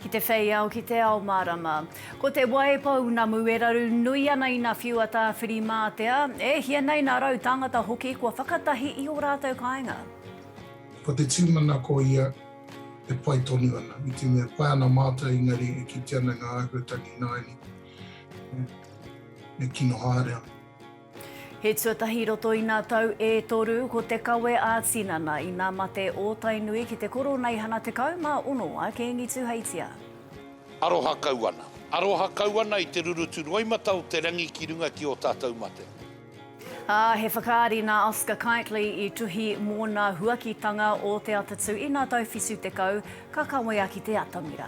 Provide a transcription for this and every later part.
Ki te whei ao, ki te ao mārama. Ko te wai pounamu e raru nui ana ina whiua tāwhirimātea, e hia nei nā rau tāngata hoki kua whakatahi i ō rātou kāinga. Ko te tūmanako ia e pai tonu ana, i te mea pai ana mātou engari e kite ana ngā āhuatangi ināianei e kino haere ana. He tuatahi i roto i nā tau e toru ko te kawe ā-tinana i nā mate ō Tainui ki te Koroneihana 16 a Kīngi Tuheitia. Aroha kau ana. Aroha kau ana i te rurutu roimata o te rangi ki runga ki ō tātou mate. Ā, he whakaari nā Oscar Kightly i tuhi mōna huakitanga o te atatū i nā tau 70, ka kawea ki te atamira.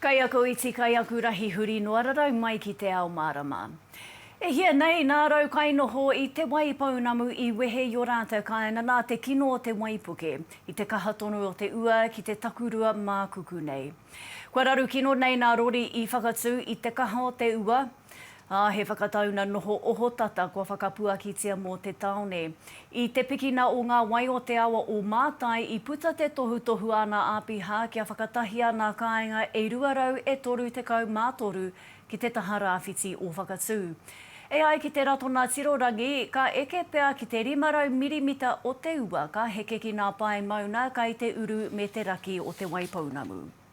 Kai aku iti, kai aku rahi huri noa rarau mai ki te ao mārama. E hia nei, nā rau kainoho i Te Waipounamu i wehe i o rātou kāinga nā te kino o te waipuke, i te kaha tonu o te ua ki te takurua mākuku nei. Kua raru kino nei nā Rori i whakatū i te kaha o te ua, Ā, he whakatauna noho ohotata kua whakapuakitia mō te tāone. I te pikina o ngā wai o te awa o Mātai i puta te tohutohu āna āpiha kia whakatahia nā kāinga e 200 e 33 ki te taha rāwhiti o Whakatū. E ai ki te Ratona Tirorangi, ka eke pea ki te 500 mirimita o te ua ka heke ki nā pae mauna kai te uru me te raki o Te Waipounamu.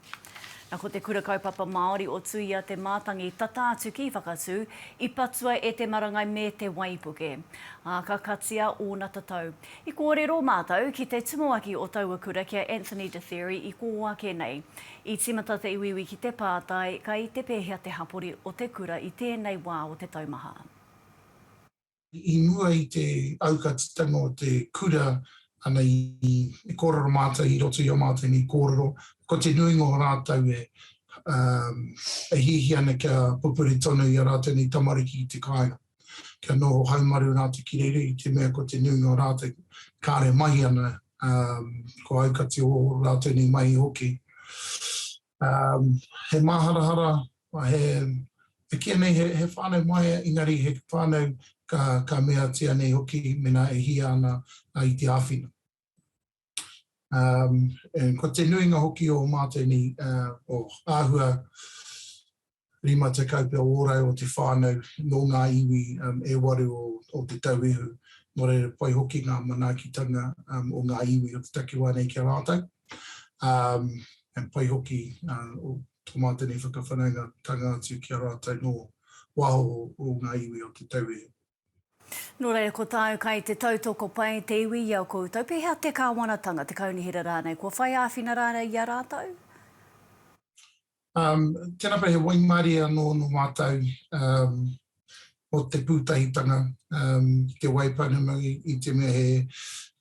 Na ko te Kura Kaupapa Māori o Tuia te mātangi tata atu ki Whakatū, i patua e te marangai me te waipuke. Ā, ka katia ōna tatau. I kōrero mātou ki te tumuaki o taua kura ki a Anthony Detheri i kō ake nei. I tīmata te iwiiwi ki te pātai, kai te pēhea te hapori o te kura i tēnei wā o te taumaha? I mua i te aukatitanga o te kura, ana i kōrero mātou i roto i ō mātou nei kōrero, ko te nuinga o rātou e hiahia ana kia pupuri tonu i a rātou nei tamariki ki te kāinga. Kia noho haumaru rātou ki reira i te mea ko te nuinga o rātou kāre mahi ana, ko aukati o rātou nei mahi hoki. Um, he māharahara, he, e kīa nei he, he whānau maia, engari he whānau ka, ka meatia nei hoki mena e hia ana uh, i te āwhina. Um, and ko te nuinga hoki o mātou ni, uh, o āhua, rima tekau pea ōrau o te whānau nō ngā iwi e waru o Te Tauihu, nō reira pai hoki ngā manaakitanga o ngā iwi o te takiwā nei ki a rātou, ā, pai hoki tō mātou nei whakawhanaungatanga atu ki a rātou nō waho o ngā iwi o Te Tauihu. Nō reira, ko tāu kai te tautoko pai te iwi i a koutou, pēhea te kāwanatanga, te kaunihera rānei, kua whai āwhina rānei i a rātou? Um, tēnā koe, he waimarie anō nō mātou um, o te pūtahitanga um, ki te wai pounamu i, i te mea he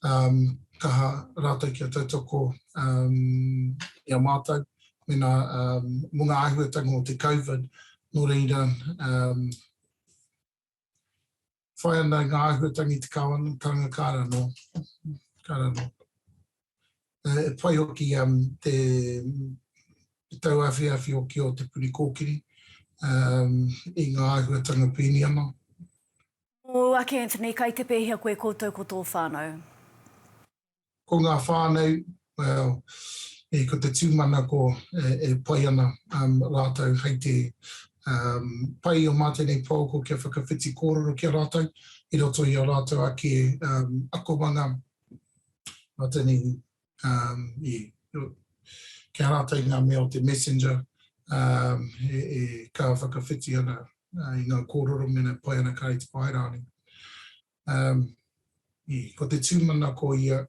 um, kaha rātou kia tautoko um, i a mātou mena um, mō ngā āhuatanga o te COVID, nō reira um, whai ana i ngā āhuatangi te kāwana, karanga kāra no, kāra no. Uh, e whai hoki um, te, te tau awhi awhi hoki o te puri kōkiri um, i ngā āhuatanga pēni ana. O Ake Anthony, kai te pēhia koe koutou ko tō whānau? Ko ngā whānau, well, e ko te tūmanako e pai ana rātou hei te pai o mā tēnei pouako kia whakawhiti kōrero ki a rātou i roto i a rātou ake akomanga mā tēnei, kia rātou i ngā mea o te messenger e ka whakawhiti ana i ngā kōrero mēnā e pai ana kāre i te whāiraone. Ko te tūmanako ia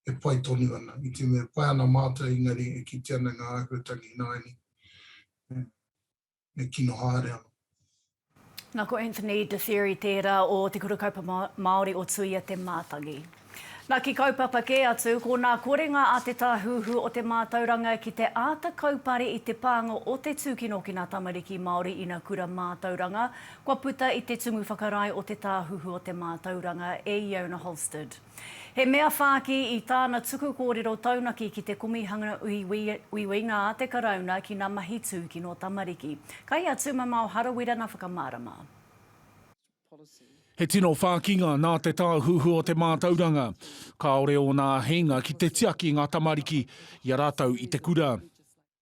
e pai tonu ana, i te mea e pai ana mātou engari e kite ana ngā āhuatangi ināiane e kino haere ana. Nā ko Anthony de Thierry tērā o Te Kura Kaupapa Māori o Tuia Te Mātangi. Nā ki kaupapa kē atu, ko nā korenga a Te Tāhuhu o te Mātauranga ki te āta kaupare i te pānga o te tūkinokina tamariki Māori ina kura mātauranga, Kua puta i te tumu whakarae o Te Tāhuhu o te Mātauranga e Iona Holsted. He mea whāki i tāna tuku kōrero taunaki ki te Komihana Uiuinga a te Karauna ki ngā mahi tūkino tamariki. Kai a Tūmamao Harawira ngā whakamārama. He tino whākinga nā Te Tāhuhu o te Mātauranga. Kāore ōna āheinga ki te tiaki i ngā tamariki i a rātou i te kura.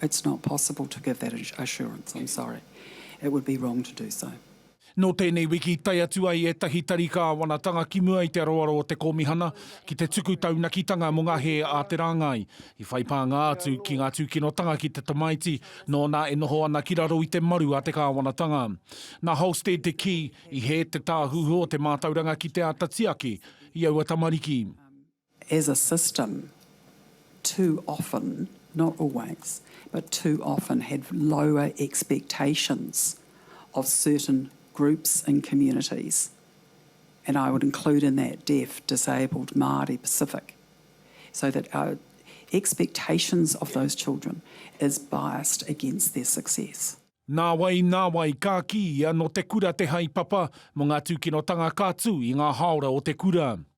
It's not possible to give that assurance, I'm sorry. It would be wrong to do so. Nō tēnei wiki, tae atu ai ētahi tari kāwanatanga ki mua i te aroaro o te Kōmihana ki te tuku taunakitanga mō ngā hē a te rāngai. I whai pānga atu ki ngā tūkinotanga ki te tamaiti nōna e noho ana ki raro i te maru a te kāwanatanga. Nā Holsted te kī, i hē te Tāhuhu o te Mātauranga ki te āta tiaki i aua tamariki. as a system too often, not always, but too often had lower expectations of certain groups and communities, and I would include in that deaf, disabled, Māori, Pacific, so that our expectations of those children is biased against their success. Nāwai, nāwai, ka kī ia nō te kura te haepapa mō ngā tūkinotanga ka tū i ngā hāora o te kura.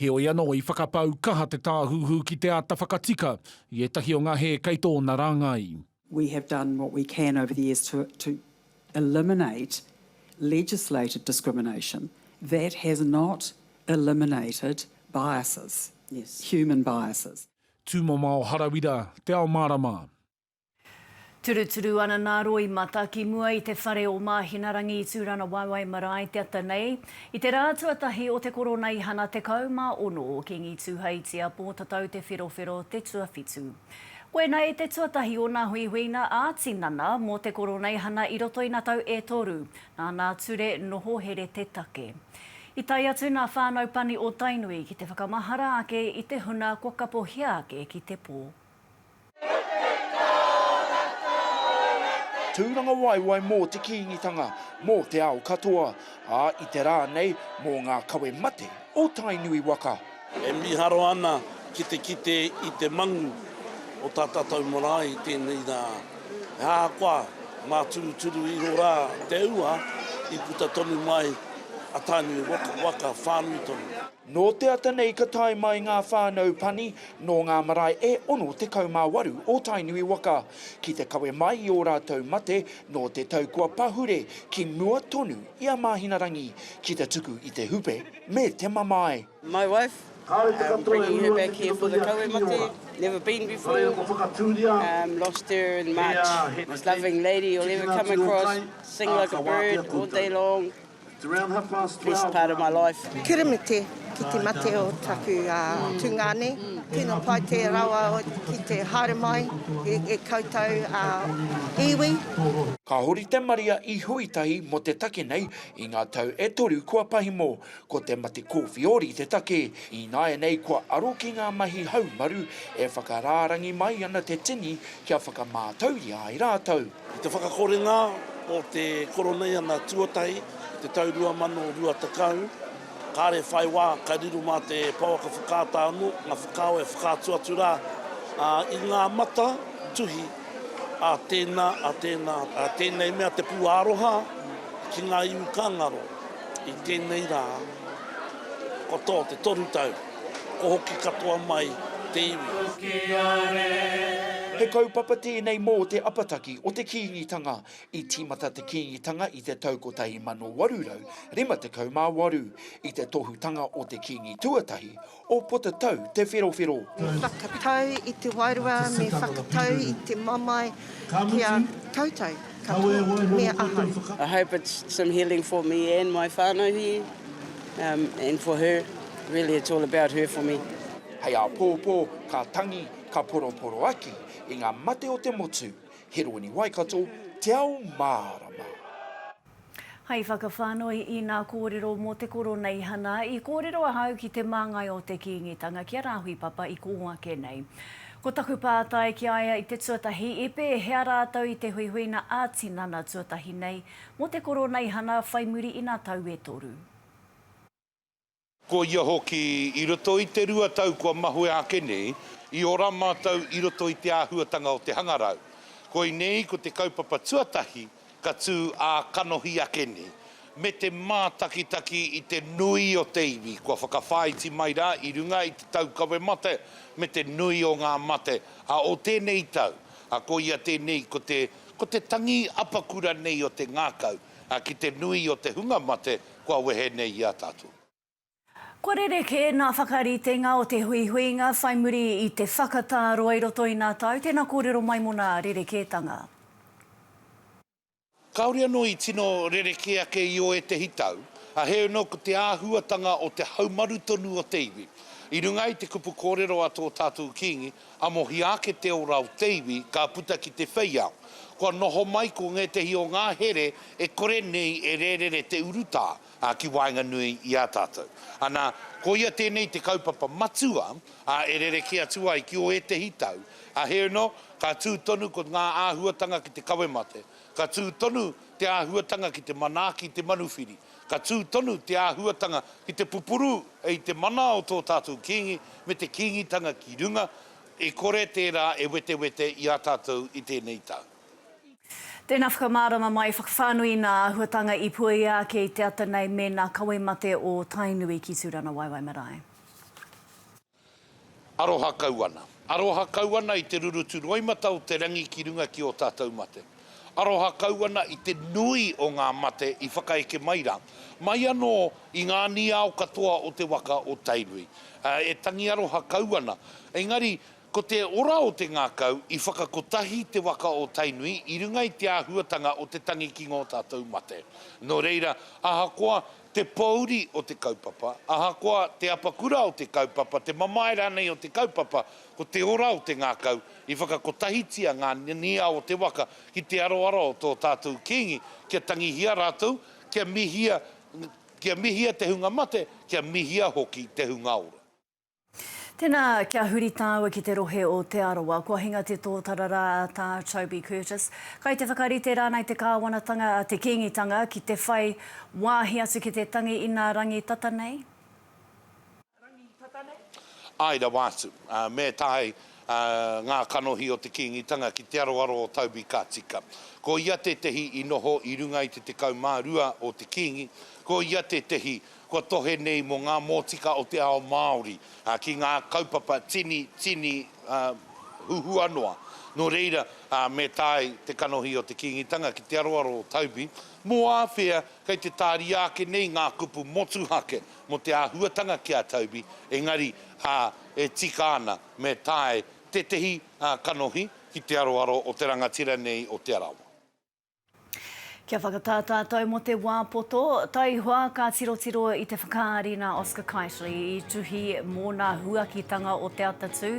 Heoi anō, i whakapau kaha te Tāhuhu ki te āta whakatika i ētahi o ngā hē kei tōna rāngai. We have done what we can over the years to eliminate legislated discrimination. That has not eliminated biases, human biases. Tūmomao Harawira, Te Ao Mārama. Turuturu ana nā Roimata ki mua i te whare o Māhinarangi i Tūranawaiwai marae te ata nei, i te rā tuatahi o te Koroneihana 16 o Kīngi Tūheitia Pōtatau Te Wherowhero te tuawhitu. Koinā i te tuatahi o nā huihuinga ā-tinana mō te Koroneihana i roto i nā tau e toru, nā nā ture noho here te take. I tae atu nā whānau pani o Tainui ki te whakamahara ake i te huna kua kapohia ake ki te pō. Tūrangawaewae mō te Kīngitanga, mō te ao katoa, ā, i te rā nei, mō ngā kawe mate o Tainui waka. E miharo ana ki te kite i te mangu o tā tātou marae i tēnei rā. He ahakoa mā turuturu iho rā te ua, i puta tonu mai a Tainui waka whānui tonu. Nō te ata nei ka tae mai ngā whānau pani nō ngā marae e 68 o Tainui waka ki te kawe mai i ō rātou mate nō te tau kua pahure ki mua tonu i a Māhinarangi ki te tuku i te hupe me te mamae. My wife, I'm bringing her back here for the kawe mate, never been before, um lost her in March, most loving lady you'll ever come across, sing like a bird all day long, Best part of my life. Keremete ki te mate o taku tungane. Tino pai te rawa ki te haere mai e koutou iwi. Ka hori te maria i Huitahi mo te take nei i nga tau e toru kua pahimo. Ko te mate kowhiori te take. Ināianei kua aro ki nga mahi haumaru e whakarārangi mai ana te tini kia whakamātauria ai rātou. I te whakakorenga o te Koroneiana tuatahi i te tau 2020, kāre whai wā ka riro mā te pouaka whakaata anō ngā whakaao e whakaatu atu rā i ngā mata tuhi a tēnā, a tēnā, a tēnei mea te pūāroha ki ngā iwi ka ngaro i tēnei rā katoa te toru tau. Ko hoki katoa mai te iwi. He kaupapa tēnei mō te apataki o te Kīngitanga. I tīmata te Kīngitanga i te tau 1858, i te tohutanga o te Kīngi tuatahi, o Potatau Te Wherowhero. Me whakatau i te wairua, me whakatau i te mamae ki a koutou. Kawe waiho mō koutou whakaaro. I hope it's some healing for me and my whanau here um and for her really it's all about her for me. Hei āpōpō, ka tangi, ka poroporoaki i ngā mate o te motu. Heroni Waikato, te ao mārama. Hei whakawhānui i nā kōrero mō te Koroneihana, i kōrero ahau ki te māngai o te Kīngitanga ki a Rāhui Papa i kō ake nei. Ko taku pātai ki a ia i te tuatahi, i pēhea rātou i te huihuina ā-tinana tuatahi nei mō te Koroneihana whai muri i nā tau e toru? Ko ia hoki, i roto i te rua tau kua mahue ake nei, i ora mātou i roto i te āhuatanga o te hangarau. Koinei ko te kaupapa tuatahi ka tū ā-kanohi ake nei, me te mātakitaki i te nui o te iwi kua whakawhāiti mai rā i runga i te taukawe mate me te nui o ngā mate a o tēnei tau, a koia tēnei ko te ko te tangi apakura nei o te ngākau. ā, ki te nui o te hunga mate kua wehe nei i a tātou. Kua rerekē ngā whakaritenga o te huihuinga whai muri i te whakatā roa i roto i ngā tau, tēnā kōrero mai mō ngā rerekētanga. Kāore anō i tino rerekē ake i ō ētehi tau, ā, heoi anō ko te āhuatanga o te haumaru tonu o te iwi. I runga i te kupu kōrero a tō tātou Kīngi, Amohia ake te ora o te iwi ka puta ki te wheiao. Kua noho mai ko ngētehi o ngā here e kore nei e rērere te urutā ki waenganui i a tātou. Anā, koia tēnei te kaupapa matua e rerekē atu ai ki ō ētehi tau. Heino, ka tū tonu ko ngā āhuatanga ki te kawe mate, ka tū tonu te āhuatanga ki te manaaki i te manuwhiri, Ka tū tonu te āhuatanga ki te pupuru i te mana o tō tātou Kīngi me te Kīngitanga ki runga, e kore tērā e wetewete i a tātou i tēnei tau. Tēnā whakamārama mai, whakawhānui i nā āhuatanga i puea ake i te ata nei mēnā kawe mate o Tainui ki Tūrangawaewae marae. Aroha kau ana. Aroha kau ana i te rurutu roimata o te rangi ki runga ki ō tātou mate. Aroha kau ana i te nui o ngā mate i whakaeke mai rā, mai anō i ngā aniao katoa o te waka o Tainui. E tangi aroha kau ana. Engari, ko te ora o te ngākau, i whakakotahi te waka o Tainui i runga i te āhuatanga o te tangi ki ngō tātou mate. Nō reira, ahakoa te pōuri o te kaupapa, ahakoa te apakura o te kaupapa, te mamae rānei o te kaupapa, ko te ora o te ngākau, i whakakotahitia ngā niao o te waka ki te aroaro o tō tātou Kīngi, kia tangihia rātou, kia mihia, kia mihia te hunga mate, kia mihia hoki te hunga ora. Tēnā, kia huri tāua ki te rohe o Te Arawa. Kua hinga te tōtara rā a Tā Toby Curtis. Kai te whakarite rānei te kāwanatanga a te Kīngitanga ki te whai wāhi atu ki te tangi i nā rangi tata nei? Āe rawa atu. Me tae ngā kanohi o te Kīngitanga ki te aroaro o Toby ka tika. Ko ia tētehi i noho i runga i te 12 o te Kīngi, ko ia tētehi Kua tohe nei mō ngā mōtika o te ao Māori ki ngā kaupapa tini, tini huhua noa. Nō reira, me tae te kanohi o te Kīngitanga ki te aroaro o Toby, mō āwhea kei te tāria ake nei ngā kupu motuhake mō te āhuatanga ki a Toby, engari, ā, e tika ana me tae tētehi kanohi ki te aroaro o te rangatira nei o Te Arawa. Kia whakatā tātou mō te wā poto, taihoa ka tirotiro i te whakaari nā Oscar Keightley i tuhi mōna huakitanga o te atatū.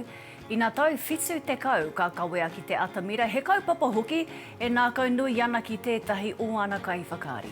Ina tau whitu tekau ka kawea ki te atamira, he kaupapa hoki e nākaunui ana ki tētahi o ana kaiwhakaari.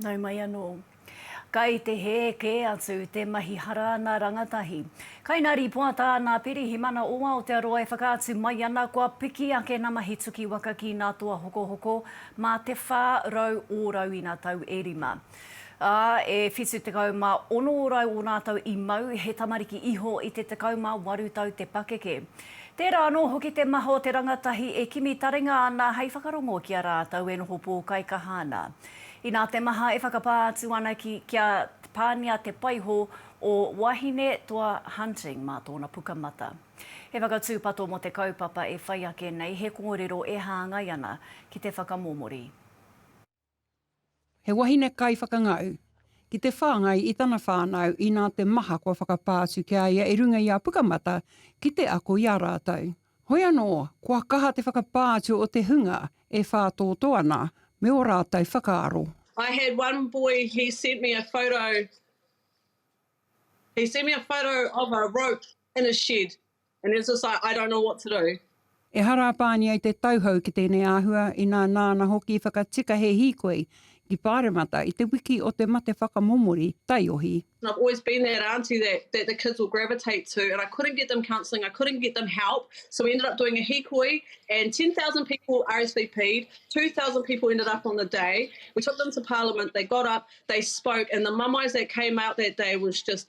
Nau mai anō. Kai te hē kē atu te mahi hara ana rangatahi. Kai nā rīpoata a nā Pirihimana o Aotearoa e whakaatu mai ana kua piki ake nā mahi tuki waka ki nā toa hokohoko mā te 400 ōrau ina tau e rima. Ā, e whitu tekau mā ono rau o rātou i mau, he tamariki iho i te tekau mā waru tau te pakeke. Tērā anō hoki te maha o te rangatahi e kimi taringa ana hei whakarongo ki a rātou e noho pōkaikaha ana. Inā te maha e whakapā atu ana ki, kia pāngia te paiho o Wahine Toa Hunting mā tōna pukamata. He whakatūpato mō te kaupapa e whai ake nei, he kōrero e hāngai ana ki te whakamomori. He wahine kaiwhakangau. Ki te whāngai i tana whānau inā te maha kua whakapā atu ki a ia e runga i a Pukamata ki te ako i a rātou. Hoi anō, kua kaha te whakapā atu o te hunga e whātōtō ana me o rātou whakaaro. I had one boy he sent me a photo he sent me a photo of a rope in a shed And he was just like, I don't know what to do. Ehara a Pānia i te tauhou ki tēnei āhua, inā nāna hoki i whakatika he hīkoi ki Pāremata i te wiki o te mate whakamomori taiohi. And I've always been that aunty that that the kids will gravitate to and I couldn't get them counselling, I couldn't get them help, so we ended up doing a hīkoi and 10,000 people RSVP'd, 2,000 people ended up on the day, we took them to Parliament, they got up, they spoke and the mamais that came out that day was just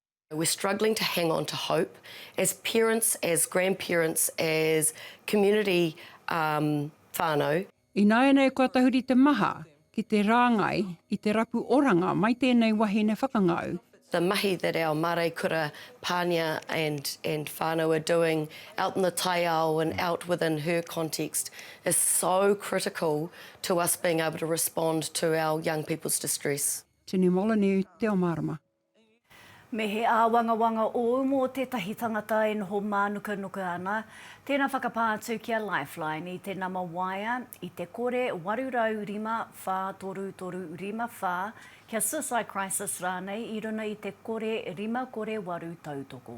We're struggling to hang on to hope as parents, as grandparents, as community whānau. Ināianei kua tahuri te maha ki te rāngai i te rapu oranga mai tēnei wahine whakangau. The mahi that our māreikura, pānia and whānau are doing out in the taiao and out within her context is so critical to us being able to respond to our young people's distress. Tini Moloney, Te Omarama. Me he āwangawanga ōu mō tētahi tangata e noho mānukanuka ana, tēnā whakapā atu ki a Lifeline i te nama waea i te kore 805 33 54 kia suicide crisis rānei i runa i te kore 5 kore 8 tautoko.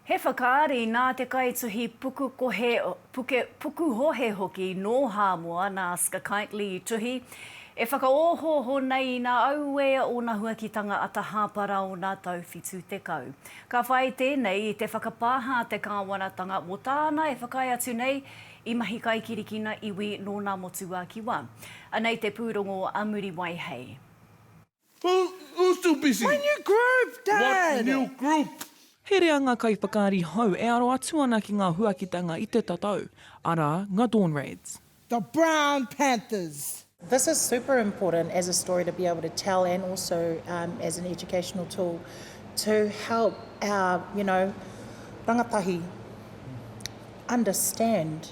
He whakaari nā te kaituhi puku kohe, puke, puku hohe hoki nō Hāmoa nā Ska Keightley i tuhi, e whakaohooho nei ina auē ōna huakitanga ata hāpa rā ōna tau 70. Ka whai tēnei i te whakapāha a te kāwanatanga mō tāna e whakaae atu nei i mahi kaikirikina iwi nō nā Motuākiwa. Anei te pūrongo a Muriwai hei. Who, who's too busy? My new group, Dad! What new group? Herea ngā kaiwhakaari hou e aro atu ana ki ngā huakitanga i te tatau, arā, ngā Dawn Raids. The Brown Panthers. This is super important as a story to be able to tell and also as an educational tool to help our you know rangatahi understand.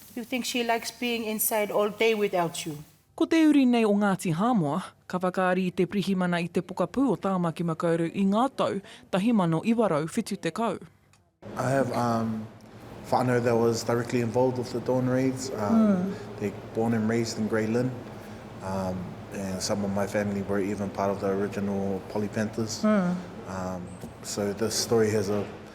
You think she likes being inside all day without you? Ko te uri nei o Ngāti Hāmoa, ka whakaari i te pirihimana i te pokapū o Tāmaki Makaurau i ngā tau 1970. I have um whānau that was directly involved with the Dawn Raids, um they born and raised in Grey Lynn, um and some of my family were even part of the original Polly Panthers, um so this story has a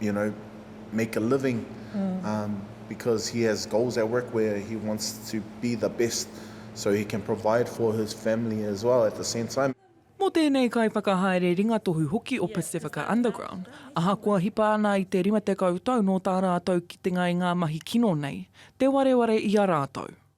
you know, make a living um because he has goals at work where he wants to be the best so he can provide for his family as well at the same time. Mō tēnei kaiwhakahaere ringatohu hoki o Pacifica Underground, ahakoa hipa ana i te rima tekau tau nō tā rātou kitenga i ngā mahi kino nei, te wareware i a rātou.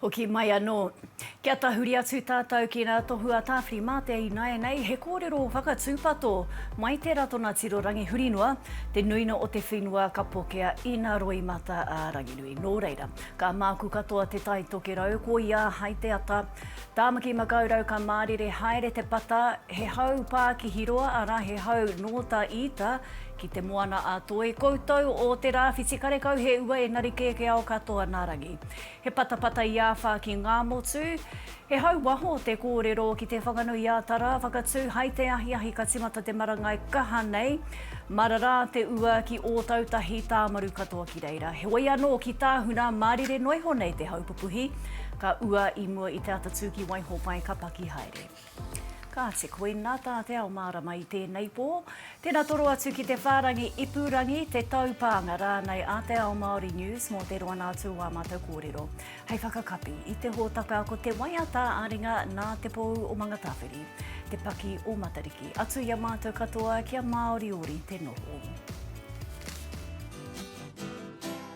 Hoki mai anō. Kia tahuri atu tātou ki ngā tohu a Tāwhiri mā te ināianei he kōrero whakatūpato mai te Ratona Tiro Rangihurinoa, te nuinga o te whenua ka pokea ina roimata a Ranginui. Nō reira, ka māku katoa te Tai Tokerau, koia hai te ata. Tāmaki Makaurau ka mārire haere te pata, he hau pākihi roa, arā he hau nō tā Ita ki Te Moana-a-Toi, koutou o te rāwhiti karekau he ua engari kēkēao katoa nā Rangi. He patapata i āwha ki Ngāmotu. He hau waho te kōrero ki te Whanganui-ā-Tara whakatū hai te ahiahi ka timata te marangai kaha nei. Marara te ua ki Ōtautahi, Tāmaru katoa ki reira. Heoi anō, ki Tāhuna, mārire noa iho nei te hau pupuhi, ka ua i mua i te atatū ki Waihōpai ka paki haere. Kāti, koina tā Te Ao Mārama i tēnei pō. Tēnā toro atu ki te whārangi ipurangi, te taupānga rānei a Te Ao Māori News mō te roanga atu o ā mātou kōrero. Hei whakakapi, i te hōtaka ko te waiata a ringa nā Te Pou o Mangatāwhiri, Te Paki o Matariki. Atu i a mātou katoa kia māoriori te noho.